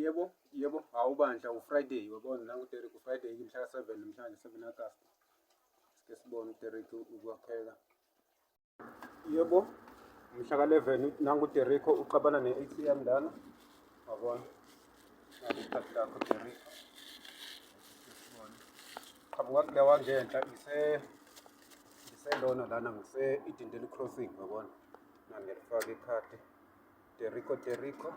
Yebo, yebo, hawu bandla uFriday uyabona nangu Derek uFriday mhla ka-7 namhlanje 7 August. Sike sibone uDerek ukwakheka. Yebo, mhla ka-11 nangu uDerek uxabana ne-ATM lana. Wabona? Ngakuthatha lakho Derek. Qhamuka kule wangenhla ise ngiselona lana ngise-Idendeli Crossing wabona. na nilifaka ikhadi teriko teriko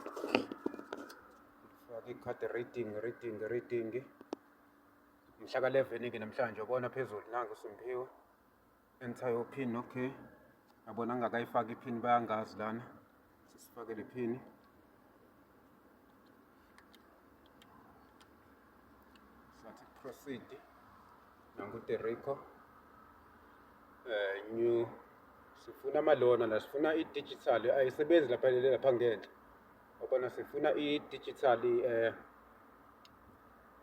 faka ikhadi reading reading reading mhla ka 11 ke namhlanje ubona phezulu nangu simphiwe enter your pin okay yabona ngingakayifaki iphini bayangazi lana sisifakele iphini Sathi proceed nangu Terico uh, eh, new sifuna amalona la sifuna i-digital ayisebenzi lapha lapha ngenhla obona sifuna i-digital eh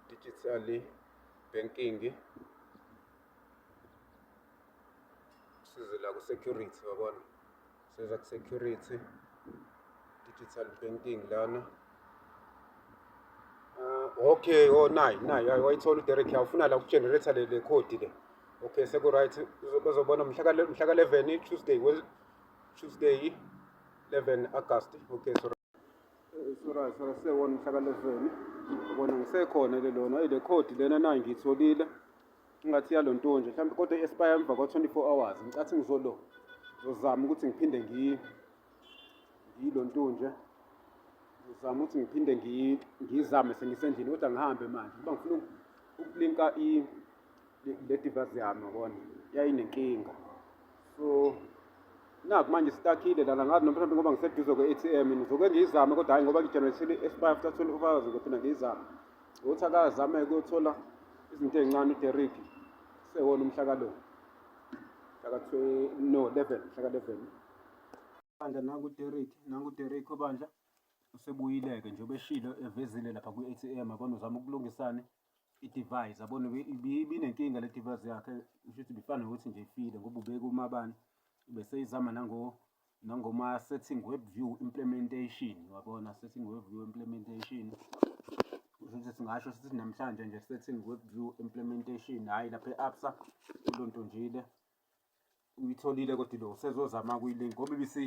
digital banking sizela ku security wabona Seza ku security digital painting lana. Uh, okay, oh nayi nayi wayithola uDerek ufuna la ukugenerator le le code le. Okay, seku right uzobona mhla ka mhla ka 11 Tuesday, Tuesday 11 August. Okay, so Sura sura sewona umhlakalezweni ubona ngisekhona le lona ile code lena nayo ngiyitholile ingathi yalo ntonje mhlawumbe kodwa i-expire emva kwa-24 hours ngicathi ngizolo ngizozama ukuthi ngiphinde ngiyilo ntonje ngizama ukuthi ngiphinde ngiyizame sengisendlini kodwa ngihambe manje kuba ngifuna ukulinka le device yami yabona yayinenkinga so naku manje sitakile lana ngazi noma mhlawumbe ngoba ngiseduze kwe-atm ngizoke ngiyizame kodwa hhayi ngoba ngijenerethile i-spy after twenty four hours ngophinda ngiyizame ukuthi akazame kuyothola izinto ey'ncane uderik sewona umhlakalo mhlaka no eleven mhlaka eleven bandla nangu uderik nangu uderik obandla usebuyile-ke nje ubeshilo evezile lapha kwi-atm abona uzama ukulungisane i-device yabona ibinenkinga le device yakhe kusho ukuthi bifana nokuthi nje ifile ngoba ubeke umabani beseyizama nango nangoma setting web view implementation wabona setting web view implementation ukuthi singasho sithi namhlanje nje setting web view implementation hhayi lapha e-absa into nto njile uyitholile kodwa lo usezozama kuyilink ngoba ibisi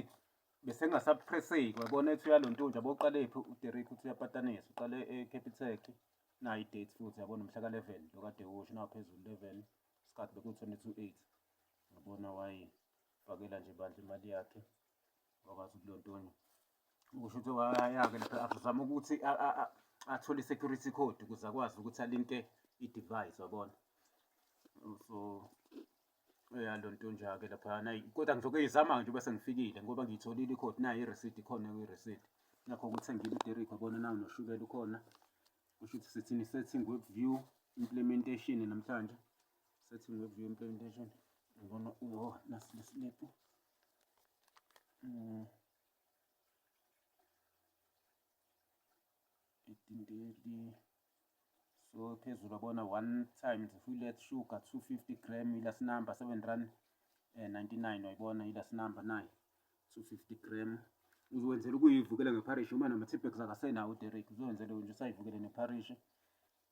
besengasapresseki wabona ethi uyalo nto nje aboqalephi uderek uthi uyapatanisa uqale e-capitec eh, nayo i-date futhi yabona mhla ka-11 lo kade usho naphezulu 11 isikhathi beku-22 ngabona wayifakela nje bandla imali yakhe wakwazi ukulontonya kusho ukuthi wayake lapha azama ukuthi athole i-security code ukuze akwazi ukuthi alinte i-device wabona so ya lo ntonja-ke laphayana kodwa ngizoke izama nje bese ngifikile ngoba ngiyitholile ikhodi nayo iresidi khona kwiresidi nakho ukuthi ngile uderiko bona nawo noshukela ukhona kusho ukuthi sithini setting web view implementation namhlanje setting web view implementation ngibona uwo nasi lesilebhu um so phezulu abona one time it's a full let sugar 250 gram ila sinamba 7 rand eh 99 wayibona ila sinamba nayo 250 gram uzokwenzela ukuyivukela ngeparish uma nama-tippex akasenawo uderek uzokwenzela nje usayivukele neparish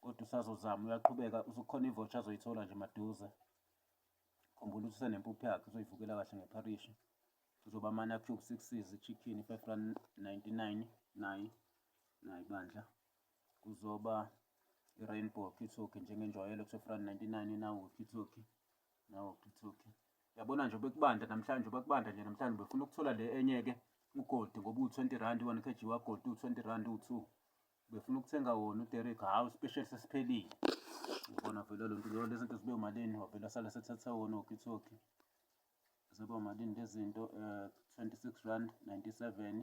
kodwa usazozama uyaqhubeka usukhona ivotsha azoyithola nje maduze khumbula ukuthi usenempuphu yakhe uzoyivukela kahle ngeparishi uzoba ama-cube sixes i-chicken i-five rand ninety-nine naye naye bandla kuzoba i-rainbow walkie-talkie njengenjwayelo kuseFran 99 nawo walkie-talkie nawo walkie-talkie yabona nje bekubanda namhlanje bekubanda nje namhlanje befuna ukuthola le enye-ke ugoldi ngoba uwu-20 rand one kg wagoldi uwu-20 rand uwu-two befuna ukuthenga wona uderek hhawu special sesiphelile ubona vele lo nto leyo lezi nto zibe umalini wavele asala sethatha wona walkie-talkie zibe umalini lezi zinto um eh, 26 rand 97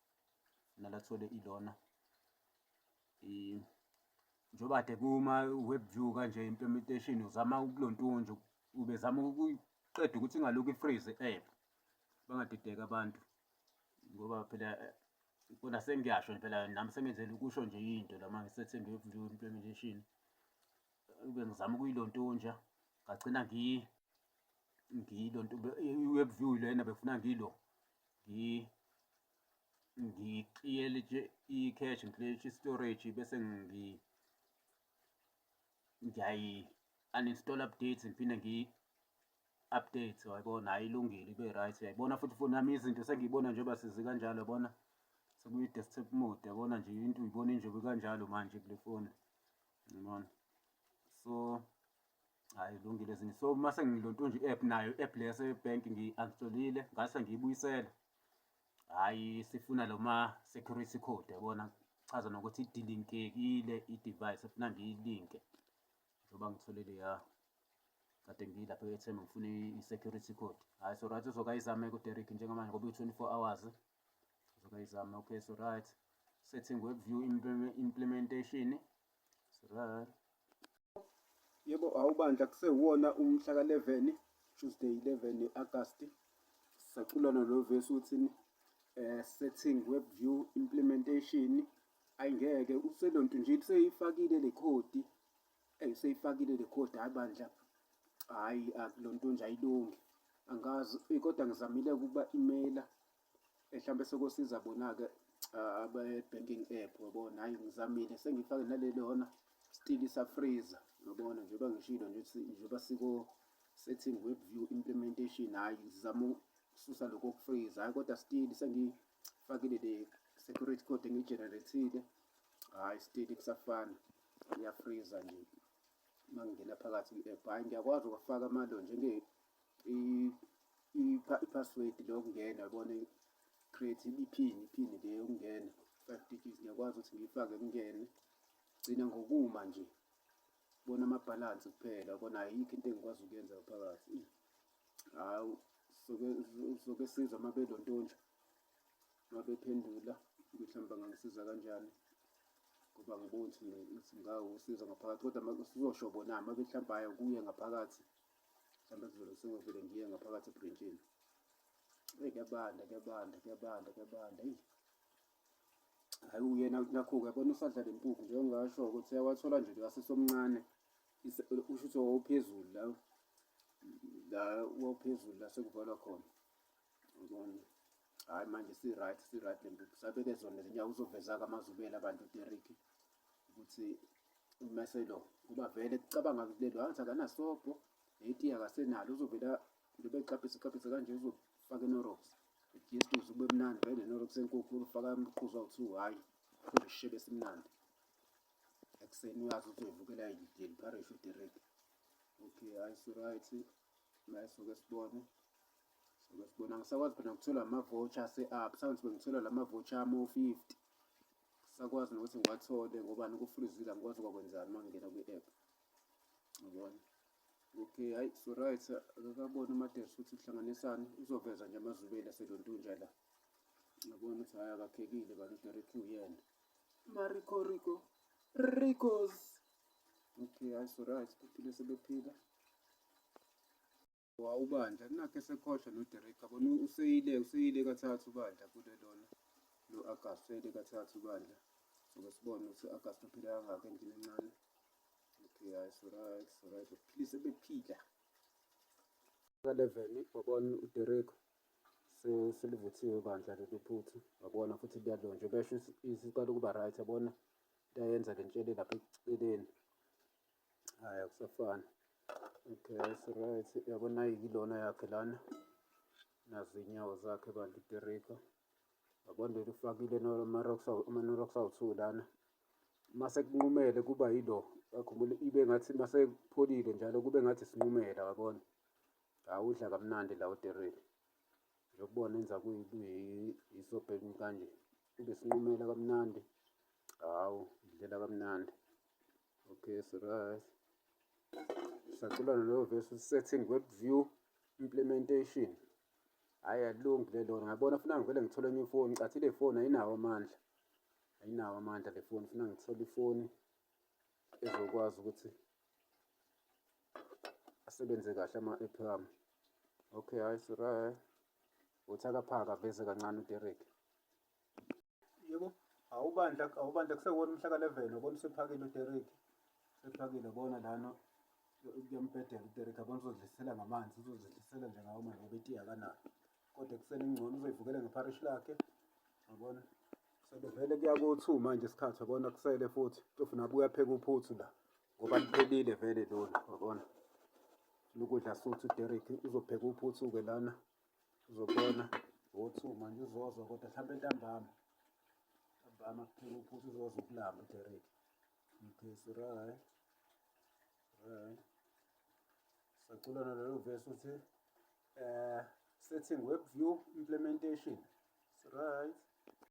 nalathole ilona njengoba kade kuma-web view kanje implementation uzama ukulontunja ubezama ukuyiqeda ukuthi ingalokhu ifreeze i-app bangadideki abantu ngoba phela kona sengiyasho phela nami sengenzela ukusho nje into lama ngisethe nge-web view implementation ube ngizama ukuyilontunja ngagcina ngiyilonto i-web view lena befuna ngilo ngiclearlitshe i-cache ngiclearlitshe i-storage bese ngiyayi-uninstall updates ngiphinde ngiyi-update wayibona hhayi ilungile ibe right uyayibona futhi foni yami izinto sengiyibona njengoba sizi kanjalo yabona sekuyi-desktop mode yabona nje into uyibona injobi kanjalo manje kule foni yabona so hayi lungile zini so uma sengilontunje i-app nayo i-app le yasebhenki ngi-unstolile ngase ngiyibuyisela hhayi sifuna lo ma security code yabona chaza nokuthi idilinkekile i-device efuna ngiyilinke njengoba ngithole leya kade ngiyilapha ethemba ngifuna i-security code hhayi so right uzokayizame kuderik njengamanje ngoba uyi-twenty four hours uzokayizame okay so right setting web view implementation Yebo awubandla kusewona umhla ka-11 Tuesday 11 August sisacula nalo verse uthini eh setting web view implementation ayingeke uselonto nje kuseyifakile le code eh useyifakile le code hayi bandla hayi akulonto nje ayilungi angazi eh, kodwa ngizamile ukuba imela mhlawumbe sokosiza bona-ke ah, abe-banking app wabona hhayi ngizamile sengifake naleli hona stili safreezer yabona njengoba ngishilo nje ukuthi njengoba siko setting web view implementation hhayi ngizama ukususa lokho kufreezer hhayi kodwa stili sengifakile le security code engiyigenerethile hhayi stili kusafana iyafreezer nje uma ngingena phakathi kwi-app hhayi ngiyakwazi ukufaka amalo njenge i-password lokungena yabona create iphini iphini le yokungena five digits ngiyakwazi ukuthi ngiyifake kungene gcina ngokuma nje bona amabhalansi kuphela bona ayikho into engikwazi ukuyenza phakathi hawu soke siza uma belontonja uma bephendula ukuthi hamba ngangisiza kanjani ngoba ngibona ukuthi ngingawusiza ngaphakathi kodwa sizosho bona uma behlamba kuye ngaphakathi mhlawumbe sizolo sengivele ngiye ngaphakathi ebrintshini eyi kuyabanda kuyabanda kuyabanda kuyabanda eyi hayi uyena nakho-ke yabona usadla le mpuphu njengasho ukuthi uyawathola nje ngasesomncane usho ukuthi wawuphezulu la la wawuphezulu la sekuvalwa khona yabona hayi manje si-right si-right le mpuphu sabeke zona zinyawo uzoveza-ke amazubela abantu uderrick ukuthi umese lo ngoba vele kucabanga kulelo angithi akanasobho netiya akasenalo uzovela lobe exaphise exaphise kanje uzofaka enorox ijestus ube mnandi vele nenorox enkukhu ulufaka umqhuzu awu-two hhayi ukhombe isishebe esimnandi ekuseni uyazi ukuthi uyivukela yideli parish uderrick okay hayi si-right mayisuke sibone Sibona ngisakwazi phela ngithola ama-voucher ase-up. Sawona sibe ngithola la ma-voucher amo-fifty. Sakwazi nokuthi ngiwathole ngobani kufrizile angikwazi ukwakwenzani uma ngingena kwi-app. Ngibona. Okay, hayi so right akakaboni uMadesi ukuthi kuhlanganisani uzoveza nje amazubeli aselontunja la. Ngibona ukuthi hayi akakhekile kanti uDerek uyena. Mariko Rico. Ricos. Okay, hayi so right kuphile sebephila. Wa ubandla nakhe sekhohlwa no Derek yabona useyile useyile kathathu ubandla kule lona lo August useyile kathathu ubandla soke sibone ukuthi August uphile kangaka endlini encane okay hayi so right so right please ebephila ka level wabona u Derek so silivuthiwe bandla leli phuthu wabona futhi liyalonjwa besho isiqala ukuba right yabona liyayenza le ntshele lapha eceleni hayi akusafani okay it's right yabona yilona yakhe lana nazi inyawo zakhe bantu iterika yabona leli ufakile ama-norocks awu-two lana uma sekunqumele kuba yilo akhumbule ibe ngathi uma sekupholile njalo kube ngathi sinqumela wabona awudla kamnandi la uterika yokubona enza kuyisobhekini kanje kube sinqumela kamnandi hawu idlela kamnandi Okay, it's right. Sacula leyo verse setting web view implementation. Hayi alilungi le lona. Ngabona funa ngivele ngithole enye ifoni. Cathi le foni ayinawo amandla. Ayinawo amandla le foni. Funa ngithole ifoni ezokwazi ukuthi asebenze kahle ama-app ami. Okay, hayi it's right. Uthi akaphaka veze kancane uDerek. yebo awubandla awubandla kusewona umhla ka-11 yabona usephakile uderek usephakile bona lana kuyambhedela uderek abona uzodlisela ngamanzi uzozidlisela nje ngawo manje ngoba itiya akanayo kodwa ekuseni ingcono uzoyivukela ngeparishi lakhe yabona sebevele kuya ko-two manje isikhathi yabona kusele futhi tofu nabuya pheka uphuthu la ngoba liphelile vele lona wabona lokudla suthi uderek uzopheka uphuthu-ke lana uzobona wothi manje uzozwa kodwa mhlawumbe ntambama ntambama kuphela ukuthi uzozwa ukulamba uderek okay so right right saculana lelo vesi ukuthi um setting web view implementation so right